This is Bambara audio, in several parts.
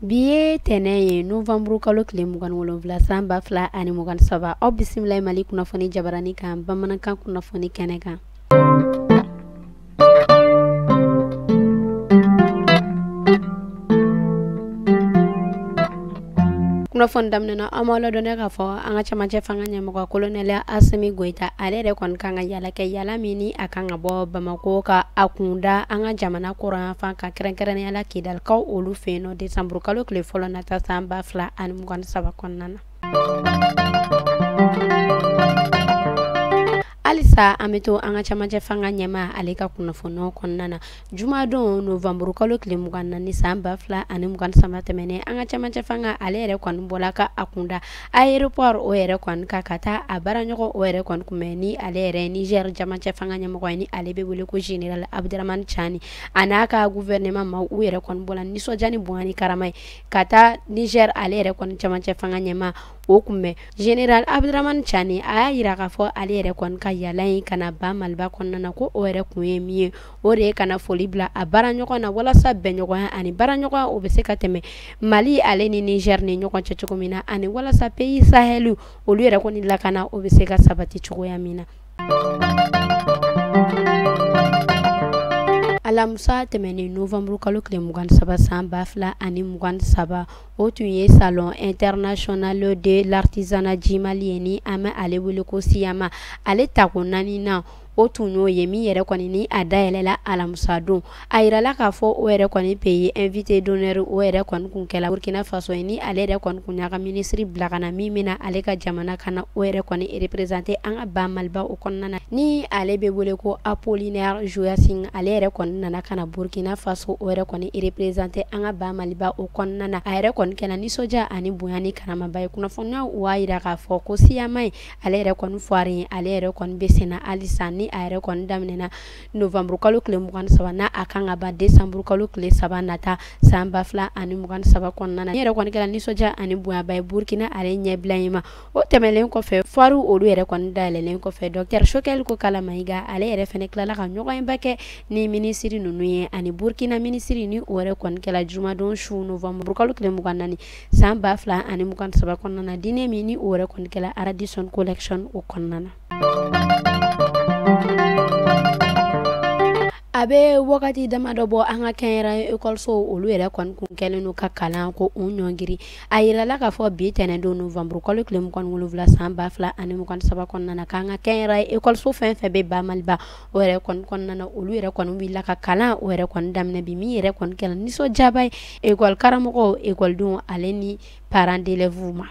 bi ye tɛnɛn ye novanburu kalo tile mugan wolonwula san ba fila ani mugan saba aw bisimila mali kunnafoni jabarani kan bamanankan kunnafoni kɛnɛ kan kunnafoni daminɛna an b'a ladɔnniya k'a fɔ an ka camancɛ fanga ɲɛmɔgɔ kolonɛli asimi goyita ale yɛrɛ kɔni kan ka yala kɛ yala min ni a kan ka bɔ bamako ka a kunda an ka jamana kɔrɔnyanfan kan kɛrɛnkɛrɛnnenya la kidalikaw olu fɛ yen nɔ desanburukalo tile fɔlɔ nata san ba fila ani mugan saba kɔnɔna na halisa an bɛ to an ka camacɛ fanga ɲɛma ale ka kunnafoniw kɔnɔna na jumadon novanburu kalo tile mugan naani san ba fila ani mugan saba tɛmɛnen an ka camacɛ fanga ale yɛrɛ kɔni bɔla ka a kunda aéroport o yɛrɛ kɔni kan ka taa a baaraɲɔgɔn o yɛrɛ kɔni kunbɛn ni ale yɛrɛ niger camacɛ fanga ɲɛmɔgɔ ye ni ale bɛ wele ko general abdramani cani a n'a ka gouvernement maaw yɛrɛ kɔni bɔla nisɔndiya ni bonya ni karama ye ka taa niger ale yɛrɛ kɔni camancɛ fanga ɲɛma o kunbɛn general abdramani cani a y'a yira k'a fɔ ale yɛrɛ kɔni ka yala in ka na ba maliba kɔnɔna na ko o yɛrɛ kun ye min ye o de ye ka na foli bila a baaraɲɔgɔn na walasa bɛnɲɔgɔnya ani baaraɲɔgɔnya o bɛ se ka tɛmɛ mali ale ni niger ni ɲɔgɔn cɛ cogo min na ani walasa pays saheliw olu yɛrɛ kɔni lakana o bɛ se ka sabati cogoya min na alamisa tɛmɛnen novanburu kalo tile mugan saba san ba fila ani mugan saba o tun ye salon international de l'artisanat du mali ye ni an bɛ ale wele ko siyama ale tako naaninan o tun y'o ye min yɛrɛ kɔni ni a dayɛlɛla alamisa don a yirala k'a fɔ o yɛrɛ kɔni pays invité d'honneur o yɛrɛ kɔni kun kɛla burukina faso ye ni ale yɛrɛ kɔni kun y'a ka minisiri bila ka na min bɛna ale ka jamana ka na o yɛrɛ kɔni représenter an ka ba maliba o kɔnɔna na ni ale bɛ wele ko apollinaire joachim ale yɛrɛ kɔni nana ka na burukina faso o yɛrɛ kɔni représenter an ka ba maliba o kɔnɔna na a yɛrɛ kɔni kɛla nisɔndiya ani bonya ni karamaba ye kunnafoniyaw b'a yira k'a fɔ ko siyama ye ale yɛrɛ kɔni foire ye ale yɛrɛ kɔni bɛ senna halisa ni a yɛrɛ kɔni daminɛna nowanburukalo tile mugan saba n'a a kan ka ban desanburukalo tile saba nata san ba fila ani mugan saba kɔnɔna na n'a yɛrɛ kɔni kɛra nisɔndiya ani bonyaba ye burukina ale ɲɛbila in ma o tɛmɛnen kɔfɛ foire olu yɛrɛ kɔni dayɛlɛlen kɔfɛ dɔktɛr choguel kokalla mayiga ale yɛrɛ fana tilala ka ɲɔgɔnba kɛ ni minisiri ninnu ye ani burukina minisiri ni o yɛrɛ kɔni kɛra jumadon su nowanburukalo tile mugan naani san ba fila ani mugan saba kɔnɔna na dîner min ni o yɛrɛ kɔni kɛra radisson collection o kɔnɔna na a bɛ wagati damadɔ bɔ an ka kɛnyɛrɛye ekɔliso olu yɛrɛ kɔni kun kɛlen don ka kalanko u ɲɔngiri a yirala k'a fɔ bi tɛnɛndon novanburu kalo tile mugan ni wolonwula san ba fila ani mugan ni saba kɔnɔna na k'an ka kɛnyɛrɛye ekɔliso fɛn fɛn bɛ ba maliba o yɛrɛ kɔni kɔnɔna na olu yɛrɛ kɔni wulila ka kalan o yɛrɛ kɔni daminɛ bi min yɛrɛ kɔni kɛla nisɔndiyaba ye ekɔlikaramɔgɔw ekɔlidenw ale ni parents d'élèves ma.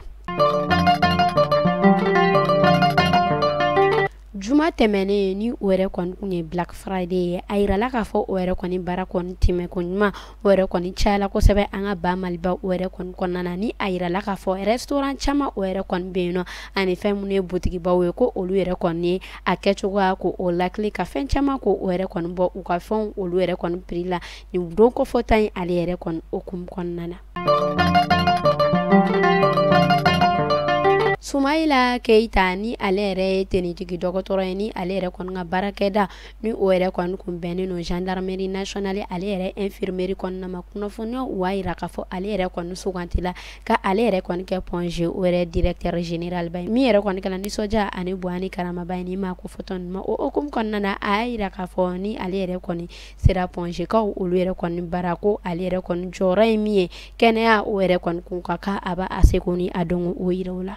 juma tɛmɛnen ni o yɛrɛ kɔni kun ye black friday ye a yirala k'a fɔ o yɛrɛ kɔni baara kɔni tɛmɛ ko ɲuman o yɛrɛ kɔni cayala kosɛbɛ an ka ba maliba o yɛrɛ kɔni kɔnɔna na ni a yirala k'a fɔ restaurant caman o yɛrɛ kɔni bɛ yen nɔ ani fɛn minnu ye botigibaw ye ko olu yɛrɛ kɔni ye a kɛcogoya ko o lakili ka fɛn caman ko o yɛrɛ kɔni bɔ u ka fɛnw olu yɛrɛ kɔni prix la nin don kofɔta in ale yɛrɛ kɔni hukumu kɔnɔna na Sumayila Keyita ni ale yɛrɛ ye tenitigi dɔgɔtɔrɔ ye ni ale yɛrɛ kɔni ka baarakɛda ni o yɛrɛ kɔni kun bɛnnen don gendarmerie nationale ale yɛrɛ infirmerie kɔnɔna ma kunnafoniyaw u b'a yira k'a fɔ ale yɛrɛ kɔni sugantila ka ale yɛrɛ kɔni kɛ Point G o yɛrɛ directeur général ba ye min yɛrɛ kɔni kɛla nisɔndiya ani bonya ni karamaba ye nin maa kofɔtɔ ninnu ma o hukumu kɔnɔna na a y'a yira k'a fɔ ni ale yɛrɛ kɔni sera Point G kaw olu yɛrɛ kɔni bara ko ale yɛrɛ kɔni jɔyɔrɔ ye min ye kɛnɛya o yɛrɛ kɔni kunkan k'a b'a seko ni a dɔnko o yira o la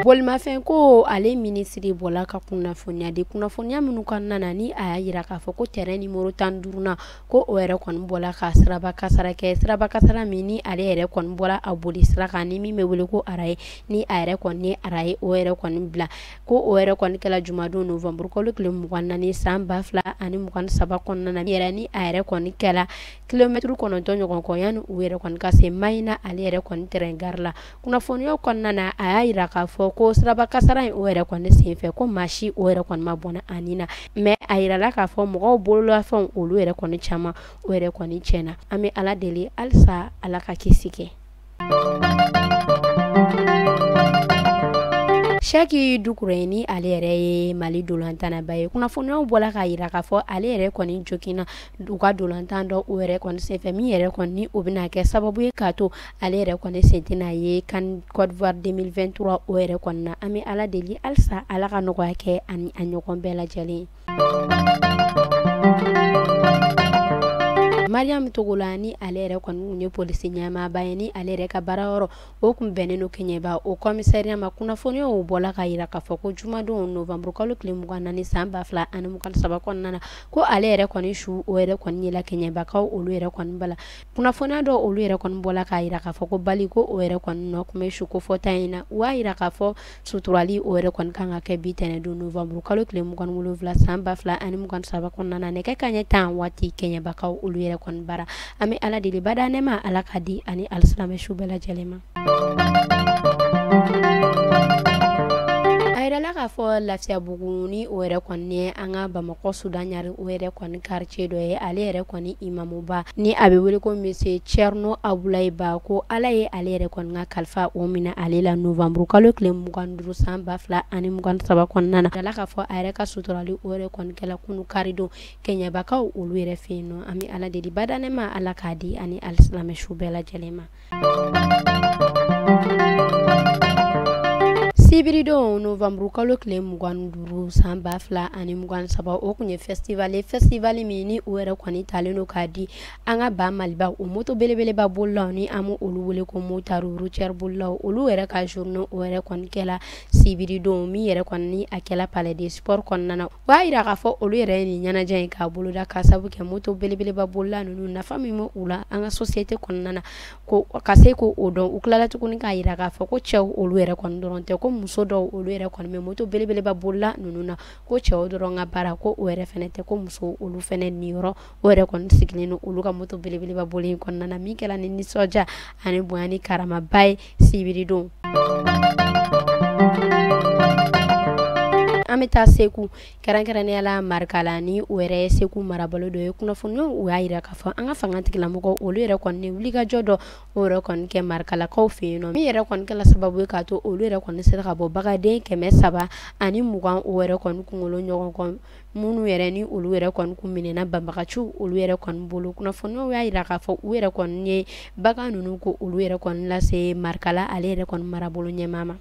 bolimafɛnko ale minisiri bɔla ka kunnafoniya di kunnafoniya minnu kɔnɔna na ni a y'a yira k'a fɔ ko tɛrɛn nimoro tan duurunan ko o yɛrɛ kɔni bɔla ka siraba kasara kɛ siraba kasara min ni ale yɛrɛ kɔni bɔla a boli sira kan ni min bɛ wele ko arayi ni a yɛrɛ kɔni ye arayi o yɛrɛ kɔni bila ko o yɛrɛ kɔni kɛla jumadon novanburukalo tile mugan naani san ba fila ani mugan saba kɔnɔna na yɛrɛ ni a yɛrɛ kɔni kɛla kilomɛtiri kɔnɔntɔn ɲɔgɔn kɔ yanni u yɛrɛ kɔni ka se Mahina ale yɛrɛ kɔni tɛrɛn gari la kunnafoniyaw kɔnɔna na a y'a yira k'a fɔ ko siraba kasara in o yɛrɛ kɔni sen fɛ ko maa si o yɛrɛ kɔni ma bɔnɛ a ni na mais a yirala k'a fɔ mɔgɔw bololafɛnw olu yɛrɛ kɔni caman o yɛrɛ kɔni tiɲɛna an bɛ ala deli halisa ala ka kisi kɛ Sɛki Dukure ni ale yɛrɛ ye mali dolantannaba ye kunnafoniyaw bɔla k'a yira k'a fɔ ale yɛrɛ kɔni joginna u ka dolantan dɔ o yɛrɛ kɔni senfɛ min yɛrɛ kɔni o bɛna kɛ sababu ye k'a to ale yɛrɛ kɔni sen tɛna ye CAN Côte d'Ivoire 2023 o yɛrɛ kɔnɔna na an bɛ ala deli halisa ala ka nɔgɔya kɛ ani a ɲɔgɔn bɛɛ lajɛlen ye mariam togola ni ale yɛrɛ kɔni kun ye polisi ɲɛmaaba ye ni ale yɛrɛ ka baara yɔrɔ o kun bɛnnen don kɛɲɛba o kɔmisariya ma kunnafoniyaw bɔla k'a yira k'a fɔ ko jumadon novamburu kalo tile mugan naani san ba fila ani mugan saba kɔnɔna na ko ale yɛrɛ kɔni su o yɛrɛ kɔni yela kɛɲɛbakaw olu yɛrɛ kɔni bara kunnafoniya dɔ olu yɛrɛ kɔni bɔla k'a yira k'a fɔ ko bali ko o yɛrɛ kɔni nɔ kun bɛ su kofɔta in na u y'a yira k'a fɔ suturali o yɛrɛ kɔni kan ka kɛ bi tɛnɛndon novanburu kalo tile mugan wolonwula san ba fila ani mugan saba kɔnɔna na nɛgɛ kanɲɛ tan waati kɛɲɛbakaw olu yɛrɛ kɔni bara an bɛ ala deli badanɛma ala k'a di ani alisilamɛ su bɛɛ lajɛlen ma a yirala k'a fɔ lafiyabugu ni o yɛrɛ kɔni ye an ka bamakɔ sudan ɲari o yɛrɛ kɔni quartier dɔ ye ale yɛrɛ kɔni imamuba ni a bɛ wele ko monsieur Thierno Abulayi Ba ko Ala ye ale yɛrɛ kɔni ka kalifa o minɛ ale la novembre kalo tile mugan duuru san ba fila ani mugan saba kɔnɔna na a yirala k'a fɔ a yɛrɛ ka suturali o yɛrɛ kɔni kɛla kunu karidon kɛɲɛbakaw olu yɛrɛ fɛ yen nɔ an bɛ Ala deli badanɛma Ala k'a di ani alisilamɛ su bɛɛ lajɛlen ma sibiridon novanburu kalo tile mugan duuru san ba fila ani mugan saba o kun ye festival ye festival min ni o yɛrɛ kɔni talen don k'a di an ka ba maliba o moto belebeleba bolilaw ni an bɛ olu wele ko motaru routière bolilaw olu yɛrɛ ka journée o yɛrɛ kɔni kɛla sibiridon min yɛrɛ kɔni ni a kɛla palais des sports kɔnɔna na O b'a yira k'a fɔ olu yɛrɛ ye nin ɲɛnajɛ in k'a boloda ka sabu kɛ moto belebeleba bolila ninnu nafa min bɛ u la an ka société kɔnɔna na ko ka se k'o dɔn u tilala tuguni k'a yira k'a fɔ ko cɛw olu yɛrɛ kɔni dɔrɔn tɛ ko muso dɔw olu yɛrɛ kɔni bɛ moto belebeleba bolila ninnu na ko cɛw dɔrɔn ka baara ko o yɛrɛ fɛnɛ tɛ ko muso olu fɛnɛ niyɔrɔ o yɛrɛ kɔni sigilen don olu ka moto belebeleba boli in kɔnɔna na min kɛla ni nisɔndiya ani bonya ni karamaba ye sibiridon an bɛ taa segu kɛrɛnkɛrɛnnenya la marikala ni o yɛrɛ ye segu marabolo dɔ ye kunnafoniyaw u y'a yira k'a fɔ an ka fanga tigilamɔgɔw olu yɛrɛ kɔni ye wulikajɔ dɔ o yɛrɛ kɔni kɛ marikalakaw fɛ yen nɔ min yɛrɛ kɔni kɛla sababu ye k'a to olu yɛrɛ kɔni sera ka bɔ bagaden kɛmɛ saba ani mugan o yɛrɛ kɔni kunkolo ɲɔgɔn kɔ minnu yɛrɛ ni olu yɛrɛ kɔni kun minɛna banbagaciw olu yɛrɛ kɔni bolo kunnafoniw y'a yira k'a fɔ u yɛrɛ kɔni ye bagan ninnu ko olu yɛrɛ kɔni lase marikala ale yɛrɛ kɔni marabolo ɲɛmaa ma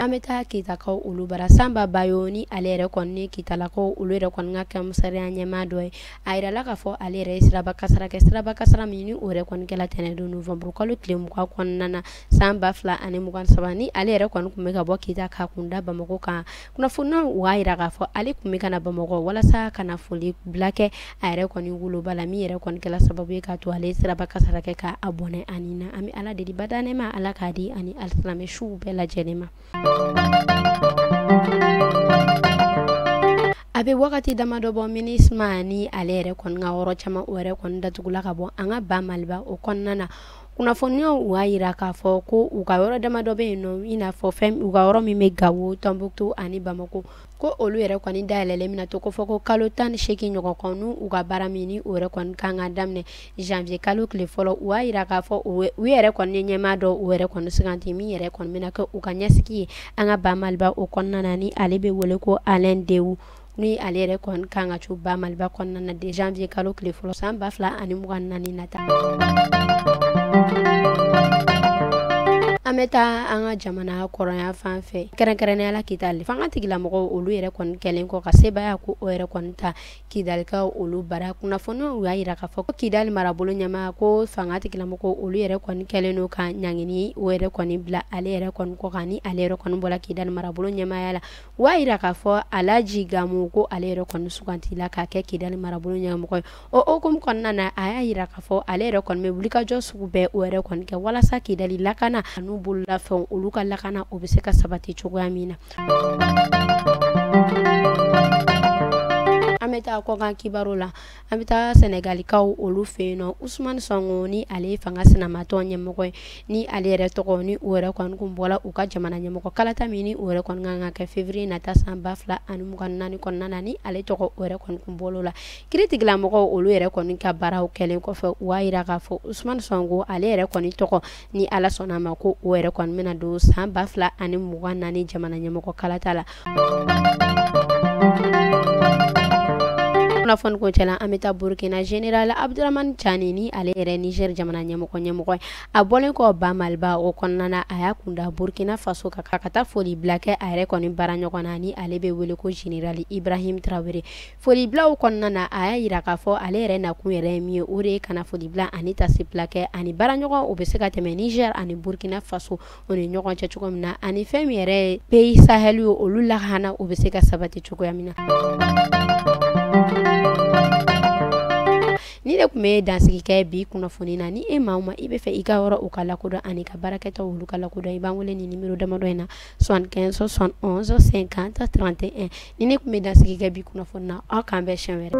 an bɛ taa kitakaw olu bara sanba bayo ni ale yɛrɛ kɔni ye kitalakaw olu yɛrɛ kɔni ka kɔmisariya ɲɛmaa dɔ ye a yirala k'a fɔ ale yɛrɛ ye siraba kasara kɛ siraba kasara min ni o yɛrɛ kɔni kɛla tɛnɛndon novanburu kalo tile mugan kɔnɔna na san ba fila ani mugan saba ni ale yɛrɛ kɔni tun bɛ ka bɔ kita k'a kun da bamakɔ kan kunnafoniw y'a jira k'a fɔ ale tun bɛ ka na bamakɔ walasa ka na foli bila kɛ a yɛrɛ kɔni woloba la min yɛrɛ kɔni kɛla sababu ye k'a to ale siraba kasara kɛ ka bɔnɛ a ni na an bɛ ala deli bada nɛɛma ala k'a di a ni alisilamɛ suw bɛɛ lajɛlen ma a bɛ wagati damadɔ bɔ minusma ni ale yɛrɛ kɔni ka yɔrɔ caman o yɛrɛ kɔni datugula ka bɔ an ka ba maliba o kɔnɔna na kunnafoniw y'a jira k'a fɔ ko u ka yɔrɔ damadɔ bɛ yen nɔ i n'a fɔ fɛn u ka yɔrɔ min bɛ gawo tɔnbukutu ani bamakɔ ko olu yɛrɛ kɔni dayɛlɛlen bɛna to ko fɔ ko kalo tan ni seegin ɲɔgɔn kɔnɔ u ka baara min ni o yɛrɛ kɔni kan ka daminɛ janvier kalo tile fɔlɔ u y'a jira k'a fɔ u yɛrɛ kɔni ye ɲɛmaa dɔ o yɛrɛ kɔni suganti min yɛrɛ kɔni bɛna kɛ u ka ɲɛsigi ye an ka ba maliba o kɔnɔna na ni ale bɛ wele ko alain dewu ni ale yɛrɛ kɔni kan ka co ba maliba kɔnɔna na de janvier kalo tile fɔlɔ san ba fila ani mugan naani nata an bɛ taa an ka jamana kɔrɔnyanfan fɛ kɛrɛnkɛrɛnnenya la kidali fanga tigilamɔgɔw olu yɛrɛ kɔni kɛlen kɔ ka sebaaya ko o yɛrɛ kɔni ta kidalikaw olu bara kunnafoniw y'a yira k'a fɔ ko kidali marabolo ɲɛma ko fanga tigilamɔgɔw olu yɛrɛ kɔni kɛlen don ka ɲangini o yɛrɛ kɔni bila ale yɛrɛ kɔni kɔ kan ni ale yɛrɛ kɔni bɔra kidali marabolo ɲɛmaya la U y'a jira k'a fɔ alaji gamu ko ale yɛrɛ kɔni sugantila k'a kɛ kidali marabolo ɲɛmɔgɔ ye o hukumu kɔnɔna na a y'a jira k'a fɔ ale yɛrɛ kɔni bɛ wulikajɔ sugu bɛɛ o yɛrɛ kɔni kɛ walasa kidali lakana an'u bololafɛnw olu ka lakana o bɛ se ka sabati cogoya min na an bɛ taa kɔkan kibaru la an bɛ taa sɛnɛgalikaw olu fɛ yen nɔ usman sɔnko ni ale fanga sinamatɔn ɲɛmɔgɔ ye ni ale yɛrɛ tɔgɔ ni o yɛrɛ kɔni tun bɔra u ka jamana ɲɛmɔgɔ kalata min ni o yɛrɛ kɔni kan ka kɛ fevrier nata san ba fila ani mugan naani kɔnɔna na ni ale tɔgɔ o yɛrɛ kɔni tun bɔra o la kiiritigilamɔgɔw olu yɛrɛ kɔni ka baaraw kɛlen kɔfɛ u y'a jira k'a fɔ usman sɔnko ale yɛrɛ kɔni tɔgɔ ni ala sɔnna a ma ko o yɛrɛ kɔni bɛna don san ba fila ani mugan naani jamana ɲɛmɔgɔ kalata la kunnafoni kuncɛ la an bɛ taa burkina general abdurahmani cani ni ale yɛrɛ niger jamana ɲɛmɔgɔ ɲɛmɔgɔ ye a bɔlen kɔ ba maliba o kɔnɔna na a y'a kun da burkina faso kan ka taa foli bila kɛ a yɛrɛ kɔni baaraɲɔgɔn na ni ale bɛ wele ko general ibrahim tarawele Folibila o kɔnɔna na a y'a jira k'a fɔ ale yɛrɛ nakun yɛrɛ ye min ye o de ye ka na folibila ani taasibila kɛ ani baaraɲɔgɔn o bɛ se ka tɛmɛ niger ani burukina faso o ni ɲɔgɔn cɛ cogo min na ani fɛn min yɛrɛ pays sahel ye olu lahana o bɛ se ka sabati cogoya min na nin de tun bɛ dansigi kɛ bi kunnafoni na ni e maa o maa i bɛ fɛ i ka yɔrɔ o ka lakodɔn an'i ka baarakɛtaw olu ka lakodɔn i b'an wele nin nimero damadɔ in na 75715031 ni ne tun bɛ dansigi kɛ bi kunnafoni na aw k'an bɛn siɲɛ wɛrɛ